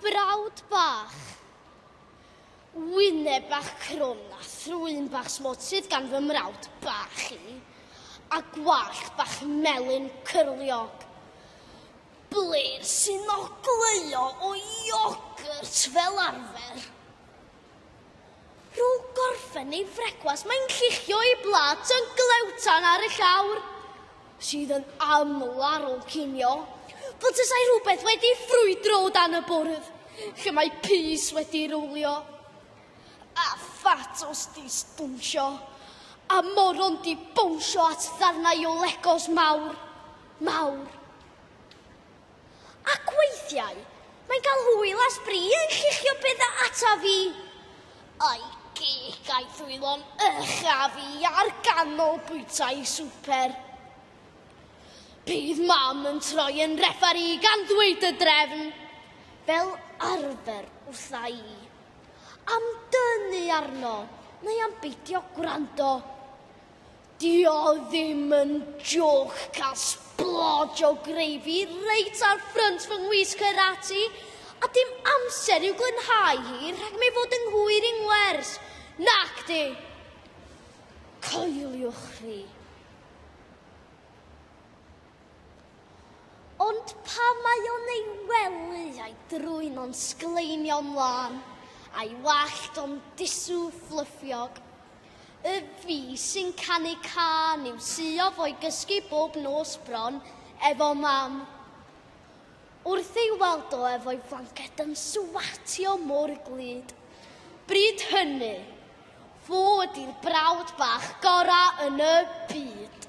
Brawd bach. Wyneb bach crwm a thrwyn bach smwt sydd gan fy mrawd bach i, a gwallt bach melyn cyrliog. Blir sy'n ogleuo o iogwrt fel arfer. Rwy'n gorffen ei frecwast, mae'n lluchio ei blat yn glewtan ar y llawr, sydd yn aml ar ôl cinio, fel tasai rhywbeth wedi ffrwydro o dan y bwrdd, lle mae pys wedi rowlio. A phatos di sbwnsio, a moron di bownsio at ddarnau o legos mawr, mawr. Ac weithiau, mae'n cael hwyl a sbri yn lluchio bethau ata fi. A'i gig a'i ddwylo'n uchaf i ar ganol bwytai swper. Bydd mam yn troi yn refari gan ddweud y drefn, fel arfer wrtha i, am dynnu arno neu am beidio gwrando. Dio ddim yn jôc cael sbloj o greifi reit ar ffrynt fy ngwisg yr ati, a dim amser i'w glanhau hi rhag mi fod yng nghwyr i ngwers, nacdi? Coeliwch chi. Ond pan mae o'n ei wely a'i drwyn o'n sgleinio mlaen, a'i wallt o'n disw fflyffiog, Y fi sy'n canu can i'w suof o'i gysgu bob nos bron efo mam. Wrth ei weld o efo'i flanced yn swatio mor glyd. Bryd hynny, fo ydy'r brawd bach gorau yn y byd.